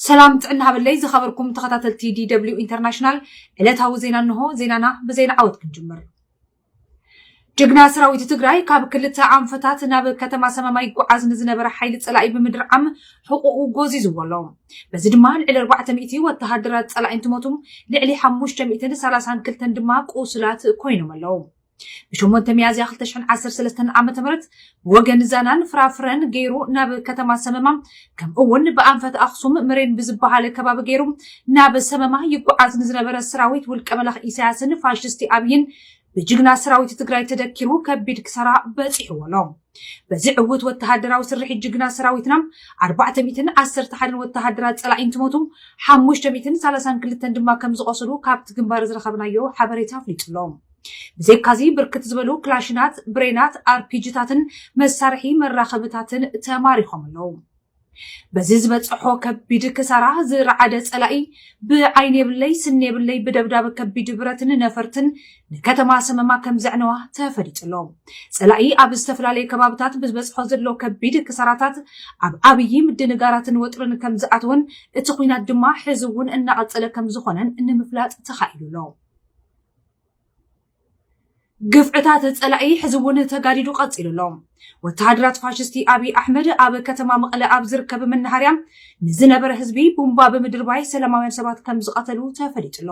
ሰላም ጥዕና ሃበለይ ዝኸበርኩም ተኸታተልቲ ዲደብሊው ኢንተርናሽናል ዕለታዊ ዜና እንሆ። ዜናና ብዜና ዓወት ክንጅምር። ጅግና ሰራዊት ትግራይ ካብ ክልተ ኣንፈታት ናብ ከተማ ሰመማ ይጓዓዝ ንዝነበረ ሓይሊ ፀላኢ ብምድርዓም ሕቁኡ ጎዚዝዎ ኣሎ። በዚ ድማ ልዕሊ 400 ወተሃደራት ፀላኢ እንትሞቱ ልዕሊ 532 ድማ ቁሱላት ኮይኖም ኣለዉ። ብሸሞንተ ሚያዝያ ክልተ ሽሕን ዓሰርተ ሰለስተን ዓመተ ምህረት ብወገን ዛናን ፍራፍረን ገይሩ ናብ ከተማ ሰመማ ከምኡ እውን ብኣንፈት ኣኽሱም ምሬን ብዝበሃል ከባቢ ገይሩ ናብ ሰመማ ይጓዓዝ ንዝነበረ ሰራዊት ውልቀ መላኽ ኢሳያስን ፋሽስቲ ኣብይን ብጅግና ሰራዊት ትግራይ ተደኪሩ ከቢድ ክሳራ በፂሕዎ ኣሎ። በዚ ዕውት ወተሃደራዊ ስርሒት ጅግና ሰራዊትና ኣርባዕተ ሚእትን ዓሰርተ ሓደን ወተሃደራት ፀላኢ እንትሞቱ ሓሙሽተ ሚእትን ሰላሳን ክልተን ድማ ከም ዝቖሰሉ ካብቲ ግንባር ዝረኸብናዮ ሓበሬታ ኣፍሊጡ ኣሎ። ብዘይካዚ ብርክት ዝበሉ ክላሽናት፣ ብሬናት፣ ኣርፒጂታትን መሳርሒ መራኸብታትን ተማሪኾም ኣለዉ። በዚ ዝበፀሖ ከቢድ ክሳራ ዝረዓደ ፀላኢ ብዓይኒ የብለይ ስኒ የብለይ ብደብዳብ ከቢድ ብረትን ነፈርትን ንከተማ ሰመማ ከም ዘዕነዋ ተፈሊጡ ኣሎ። ፀላኢ ኣብ ዝተፈላለዩ ከባብታት ብዝበፅሖ ዘሎ ከቢድ ክሳራታት ኣብ ዓብዪ ምድንጋራትን ወጥርን ከም ዝኣተወን እቲ ኹናት ድማ ሕዚ እውን እናቐፀለ ከም ዝኾነን ንምፍላጥ ተኻኢሉ ኣሎ። ግፍዕታት ፀላኢ ሕዚ እውን ተጋዲዱ ቀፂሉ ኣሎ። ወተሃደራት ፋሽስቲ ኣብይ ኣሕመድ ኣብ ከተማ መቐለ ኣብ ዝርከብ መናሃርያ ንዝነበረ ህዝቢ ቡምባ ብምድርባይ ሰላማውያን ሰባት ከም ዝቐተሉ ተፈሊጡ ኣሎ።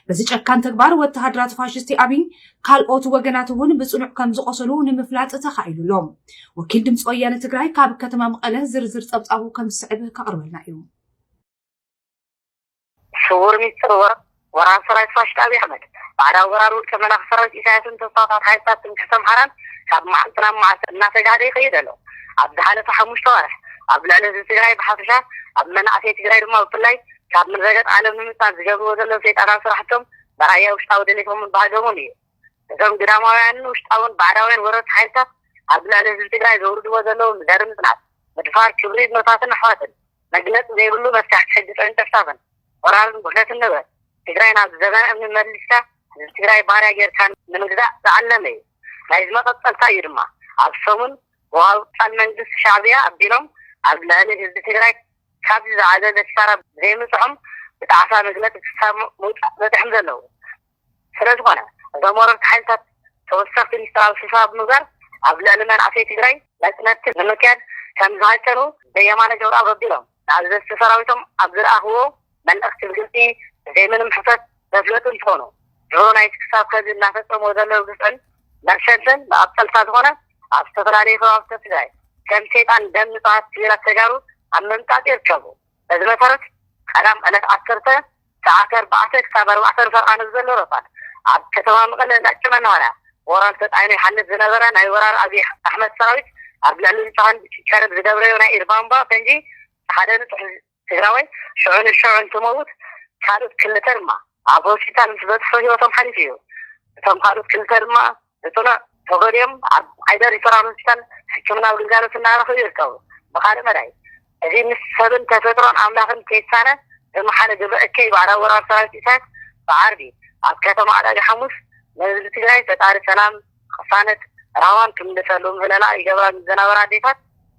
በዚ ጨካን ተግባር ወተሃደራት ፋሽስቲ ኣብይ ካልኦት ወገናት እውን ብፅኑዕ ከም ዝቆሰሉ ንምፍላጥ ተኻኢሉ ኣሎ። ወኪል ድምፂ ወያነ ትግራይ ካብ ከተማ መቐለ ዝርዝር ፀብፃቡ ከም ዝስዕብ ከቕርበልና እዩ። ስዉር ሚስጥር ወረቕ ወራር ሰራዊት ፋሽስት ኣብይ ኣሕመድ፣ ባዕዳዊ ወራር ውልቀ መላኺ ሰራዊት ኢሳያስን ተስፋፋት ሓይልታት ትምክሕቲ ኣምሓራን ካብ መዓልቲ ናብ መዓልቲ እናተጋህደ ይኸይድ ኣሎ። ኣብ ዝሓለፈ ሓሙሽተ ኣዋርሕ ኣብ ልዕሊ ህዝቢ ትግራይ ብሓፈሻ ኣብ መናእሰይ ትግራይ ድማ ብፍላይ ካብ ምድረገፅ ዓለም ንምጥፋእ ዝገብርዎ ዘለዉ ሰይጣናዊ ስራሕቶም መርኣያ ውሽጣዊ ድሌቶምን ባህገሙን እዩ። እዞም ግዳማውያንን ውሽጣውን ባዕዳውያን ወረርቲ ሓይልታት ኣብ ልዕሊ ህዝቢ ትግራይ ዘውርድዎ ዘለዉ ዘርኢ ምፅናት፣ ምድፋር፣ ክብሪ እኖታትን ኣሕዋትን፣ መግለፂ ዘይብሉ መፍታሕቲ ሕጊ ፀንጨፍጫፍን ወራርን ጉሕለትን ንበር ትግራይ ናብ ዘበነ እምኒ መሊስካ ህዝቢ ትግራይ ባርያ ገይርካ ንምግዛእ ዝዓለመ እዩ ናይዚ መቐፀልታ እዩ ድማ ኣብ ሰሙን ብዋልታን መንግስቲ ሻዕብያ ኣቢሎም ኣብ ልዕሊ ህዝቢ ትግራይ ካብዚ ዝዓዘዘ ክሳራ ብዘይምብፅሖም ብጣዕሳ መግለፂ ክሳብ ምውፃእ በፂሖም ዘለው ስለዝኾነ እዞም ወረርቲ ሓይልታት ተወሰኽቲ ሚስጥራዊ ስብሰባ ብምግባር ኣብ ልዕሊ መናእሰይ ትግራይ መፅነትቲ ንምክያድ ከምዝሃቀኑ ዘየማነ ገብረኣብ ኣቢሎም ንኣዘዝቲ ሰራዊቶም ኣብ ዝለኣኽዎ መልእኽቲ ብግልፂ ብዘይምንም ሕፍረት ዘፍለጡ እንትኾኑ ድሮ ናይቲ ክሳብ ኸዚ እናፈፀምዎ ዘለዉ ግፍዕን መርሸንትን መቐፀልታ ዝኾነ ኣብ ዝተፈላለዩ ከባብታት ትግራይ ከም ሴጣን ደም ንፁሃት ሲቪላት ተጋሩ ኣብ ምምጣጥ ይርከቡ። በዚ መሰረት ቀዳም ዕለት ዓሰርተ ሰዓት ኣርባዕተ ክሳብ ኣርባዕተ ንፈርቓ ንዘሎ ረፋድ ኣብ ከተማ መቐለ እንዳጭ መናሃርያ ሞራል ተጣዒኑ ይሓልፍ ዝነበረ ናይ ወራር ኣብይ ኣሕመድ ሰራዊት ኣብ ልዕሊ ንጹሃን ክቀርብ ዝደብረዮ ናይ ኢድ ባምባ ፈንጂ ሓደ ንጹህ ትግራዋይ ሽዑ ንሽዑ እንትመውት ካልኦት ክልተ ድማ ኣብ ሆስፒታል ምስ በጽሑ ህይወቶም ሓሊፉ እዩ። እቶም ካልኦት ክልተ ድማ ህጹናት ተጎዲኦም ኣብ ዓይደር ሪፈራል ሆስፒታል ሕክምናዊ ግልጋሎት እናረኽቡ ይርከቡ። ብኻልእ መዳይ እዚ ምስ ሰብን ተፈጥሮን ኣምላኽን ከይሳነ ዝመሓለ ግብረ እከይ ባዕዳዊ ወራር ሰራዊት ኢሳያስ ብዓርቢ ኣብ ከተማ ኣዳጋ ሓሙስ ንህዝቢ ትግራይ ፈጣሪ ሰላም፣ ቕሳነት፣ ራህዋን ክምልሰሉ ምህለላ ይገብራ ንዝነበራ ኣዴታት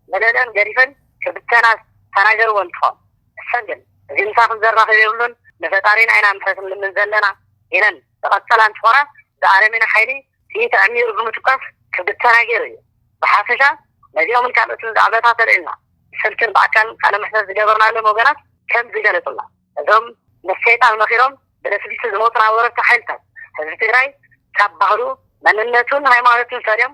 መለልእን ገዲፈን ክብተና ዝተናገርዎ እንትኾን እሰን ግን እዚ ምሳኽን ዘራኽብ የብሉን ንፈጣሪና ኢና ምሕረት ንልምን ዘለና ኢለን። ተቐጸላን ጾረ ብኣረሜን ሓይሊ ጥይት ኣዕሚሩ ብምትኳስ ክብተና ገይሩ እዩ። ብሓፈሻ ነዚኦምን ካልኦትን ዛዕባታት ኣልዒልና ብስልክን ብኣካልን ቃለ መሕተት ዝገበርናሎም ወገናት ከም ዝገለጹልና እዞም ምስ ሰይጣን መኺሮም ብልፍልፍቲ ዝመቱና ወረርቲ ሓይልታት ህዝቢ ትግራይ ካብ ባህሉ፣ መንነቱን ሃይማኖቱን ፈልዮም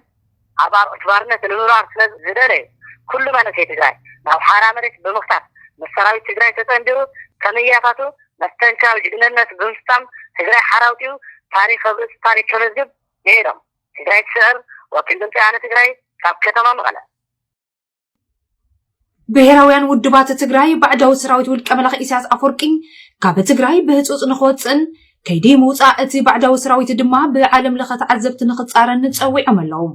ኣብ ኣርዑት ባርነት ንምንባር ስለ ዝደለየ ኩሉ መንእሰይ ትግራይ ናብ ሓራ መሬት ብምኽታት ምስ ሰራዊት ትግራይ ተፀንቢሩ ከምእያታቱ መስተንክራዊ ጅግነነት ብምፍፃም ትግራይ ሓራ ኣውፂኡ ታሪኽ ኣብ ርእሲ ታሪኽ ከመዝግብ ንኤዶም ትግራይ ትስዕር ወኪል ድምፂ ወያነ ትግራይ ካብ ከተማ መቐለ። ብሄራውያን ውድባት ትግራይ ባዕዳዊ ሰራዊት ውልቀ መላኺ ኢሳያስ ኣፈወርቂ ካብ ትግራይ ብህፁፅ ንክወፅእን ከይዲ ምውፃእ እቲ ባዕዳዊ ሰራዊት ድማ ብዓለም ለኸ ተዓዘብቲ ንክፃረን ፀዊዖም ኣለዉ።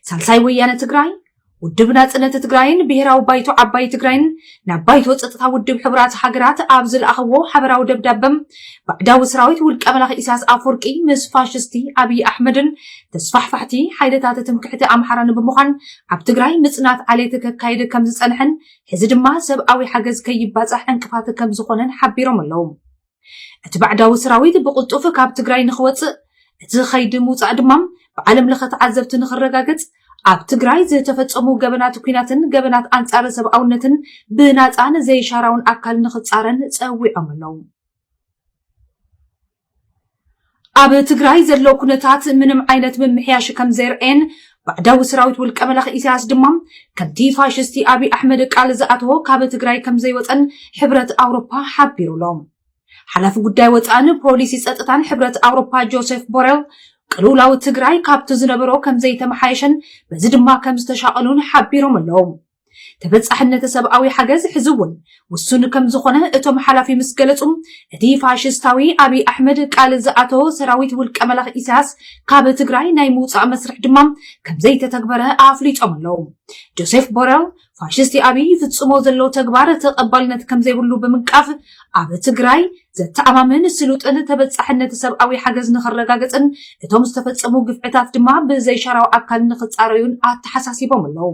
ሳልሳይ ወያነ ትግራይ ውድብ ናፅነት ትግራይን ብሄራዊ ባይቶ ዓባይ ትግራይን ናብ ባይቶ ፀጥታ ውድብ ሕቡራት ሃገራት ኣብ ዝለኣኽዎ ሓበራዊ ደብዳበ ባዕዳዊ ሰራዊት ውልቀ መላኺ ኢሳያስ ኣፈወርቂ ምስ ፋሽስቲ ኣብዪ ኣሕመድን ተስፋሕፋሕቲ ሓይልታት ትምክሕቲ ኣምሓራን ብምዃን ኣብ ትግራይ ምፅናት ዓሌት ከካየደ ከም ዝፀንሐን ሕዚ ድማ ሰብኣዊ ሓገዝ ከይባፃሕ ዕንቅፋት ከም ዝኾነን ሓቢሮም ኣለዉ። እቲ ባዕዳዊ ሰራዊት ብቕልጡፍ ካብ ትግራይ ንክወፅእ እቲ ኸይዲ ምውፃእ ድማ ብዓለም ለኸ ተዓዘብቲ ንክረጋገፅ ኣብ ትግራይ ዝተፈፀሙ ገበናት ኩናትን ገበናት ኣንፃር ሰብኣውነትን ብናፃን ዘይሻራውን ኣካል ንክፃረን ፀዊዖም ኣለው። ኣብ ትግራይ ዘሎ ኩነታት ምንም ዓይነት ምምሕያሽ ከም ዘየርኣየን ባዕዳዊ ሰራዊት ውልቀ መላኺ ኢሳያስ ድማ ከምቲ ፋሽስቲ ኣብይ ኣሕመድ ቃል ዝኣተዎ ካብ ትግራይ ከም ዘይወፀን ሕብረት ኣውሮፓ ሓቢሩ ኣሎ። ሓላፊ ጉዳይ ወፃእን ፖሊሲ ፀጥታን ሕብረት ኣውሮፓ ጆሴፍ ቦሬል ቅልውላው ትግራይ ካብቲ ዝነበሮ ከም ዘይተመሓየሸን በዚ ድማ ከም ዝተሻቐሉን ሓቢሮም ኣለዉ። ተበጻሕነት ሰብኣዊ ሓገዝ ሕዚ እውን ውሱን ከም ዝኾነ እቶም ሓላፊ ምስ ገለጹ እቲ ፋሽስታዊ ኣብይ ኣሕመድ ቃል ዝኣተዎ ሰራዊት ውልቀ መላኽ ኢሳያስ ካብ ትግራይ ናይ ምውፃእ መስርሕ ድማ ከም ዘይተተግበረ ኣፍሊጦም ኣለዉ። ጆሴፍ ቦረል ፋሽስቲ ኣብይ ይፍጽሞ ዘሎ ተግባር ተቐባልነት ከም ዘይብሉ ብምንቃፍ ኣብ ትግራይ ዘተኣማምን ስሉጥን ተበጻሕነት ሰብኣዊ ሓገዝ ንኽረጋገጽን እቶም ዝተፈጸሙ ግፍዕታት ድማ ብዘይሻራዊ ኣካል ንኽጻረዩን ኣተሓሳሲቦም ኣለዉ።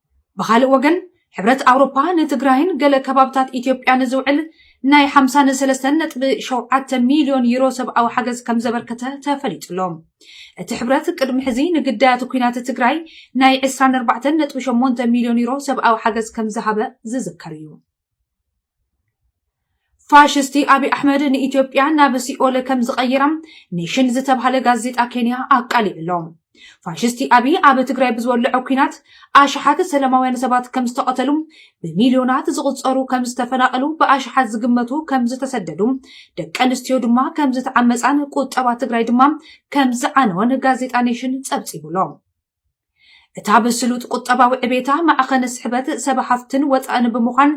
ብኻልእ ወገን ሕብረት ኣውሮፓ ንትግራይን ገለ ከባብታት ኢትዮጵያ ንዝውዕል ናይ 53.7 ሚልዮን ዩሮ ሰብኣዊ ሓገዝ ከም ዘበርከተ ተፈሊጡ ኣሎ። እቲ ሕብረት ቅድሚ ሕዚ ንግዳያት ኩናት ትግራይ ናይ 24.8 ሚልዮን ዩሮ ሰብኣዊ ሓገዝ ከም ዝሃበ ዝዝከር እዩ። ፋሽስቲ ኣብይ ኣሕመድ ንኢትዮጵያ ናብ ሲኦል ከም ዝቐይራ ኔሽን ዝተብሃለ ጋዜጣ ኬንያ ኣቃሊዑ ኣሎ። ፋሽስቲ ኣብይ ኣብ ትግራይ ብዝወለዖ ኩናት ኣሽሓት ሰላማውያን ሰባት ከም ዝተቐተሉ፣ ብሚልዮናት ዝቑፀሩ ከም ዝተፈናቐሉ፣ ብኣሽሓት ዝግመቱ ከም ዝተሰደዱ፣ ደቂ ኣንስትዮ ድማ ከም ዝተዓመፃን ቁጠባ ትግራይ ድማ ከም ዝዓነወን ጋዜጣ ኔሽን ፀብፂቡ ኣሎ። እታ ብስሉጥ ቁጠባዊ ዕቤታ ማዕኸን ስሕበት ሰብ ሃፍትን ወፃእን ብምዃን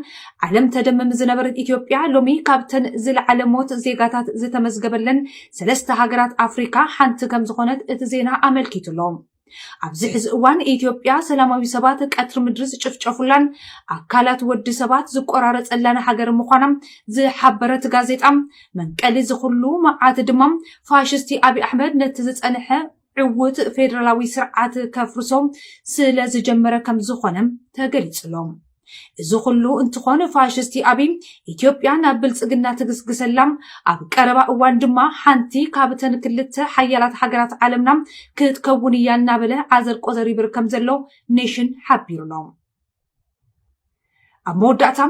ዓለም ተደምም ዝነበረት ኢትዮጵያ ሎሚ ካብተን ዝለዓለ ሞት ዜጋታት ዝተመዝገበለን ሰለስተ ሃገራት ኣፍሪካ ሓንቲ ከም ዝኾነት እቲ ዜና ኣመልኪቱ ኣሎ። ኣብዚ ሕዚ እዋን ኢትዮጵያ ሰላማዊ ሰባት ቀትሪ ምድሪ ዝጭፍጨፉላን ኣካላት ወዲ ሰባት ዝቆራረፀላን ሃገር ምዃና ዝሓበረት ጋዜጣ መንቀሊ ዝኹሉ መዓት ድማ ፋሽስቲ ኣብዪ ኣሕመድ ነቲ ዝፀንሐ ዕዉት ፌደራላዊ ስርዓት ከፍርሶ ስለ ዝጀመረ ከም ዝኾነ ተገሊጹ'ሎ። እዚ ኩሉ እንትኾን ፋሽስቲ ኣብይ ኢትዮጵያ ናብ ብልጽግና ትግስግሰላ፣ ኣብ ቀረባ እዋን ድማ ሓንቲ ካብተን ክልተ ሓያላት ሃገራት ዓለምና ክትከውን እያ እናበለ ዓዘርቆዘር ይብር ከም ዘሎ ኔሽን ሓቢሩ'ሎ። ኣብ መወዳእታ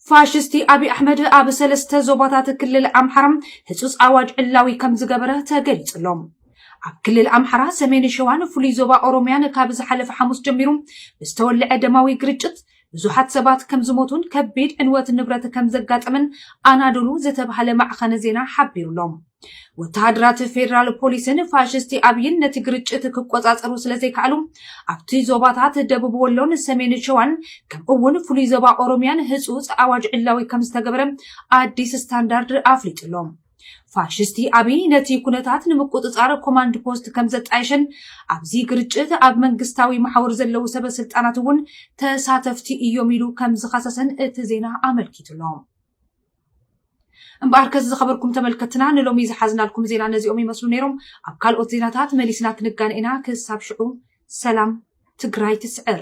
ፋሽስቲ ኣብዪ ኣሕመድ ኣብ ሰለስተ ዞባታት ክልል ኣምሓራ ህፁፅ ኣዋጅ ዕላዊ ከም ዝገበረ ተገሊፁ ኣሎ። ኣብ ክልል ኣምሓራ ሰሜን ሸዋን ፍሉይ ዞባ ኦሮምያን ካብ ዝሓለፈ ሓሙስ ጀሚሩ ብዝተወልዐ ደማዊ ግርጭት ብዙሓት ሰባት ከም ዝሞቱን ከቢድ ዕንወት ንብረት ከም ዘጋጠመን ኣናዶሉ ዝተባሃለ ማዕኸነ ዜና ሓቢሩ ኣሎ። ወተሃደራት ፌደራል ፖሊስን ፋሽስቲ ኣብይን ነቲ ግርጭት ክቆጻጸሩ ስለዘይከኣሉ ኣብቲ ዞባታት ደቡብ ወሎን ሰሜን ሸዋን ከምኡ እውን ፍሉይ ዞባ ኦሮምያን ህፁፅ ኣዋጅ ዕላዊ ከም ዝተገበረ ኣዲስ ስታንዳርድ ኣፍሊጡ ኣሎ ፋሽስቲ ኣብይ ነቲ ኩነታት ንምቁፅፃር ኮማንድ ፖስት ከም ዘጣየሸን ኣብዚ ግርጭት ኣብ መንግስታዊ መሓውር ዘለዉ ሰበ ስልጣናት እውን ተሳተፍቲ እዮም ኢሉ ከም ዝኸሰሰን እቲ ዜና ኣመልኪቱ ኣሎ እምበኣር ከዚ ዝኸበርኩም ተመልከትና ንሎሚ ዝሓዝናልኩም ዜና ነዚኦም ይመስሉ ነይሮም። ኣብ ካልኦት ዜናታት መሊስና ክንጋነ ኢና። ክሳብ ሽዑ ሰላም ትግራይ ትስዕር።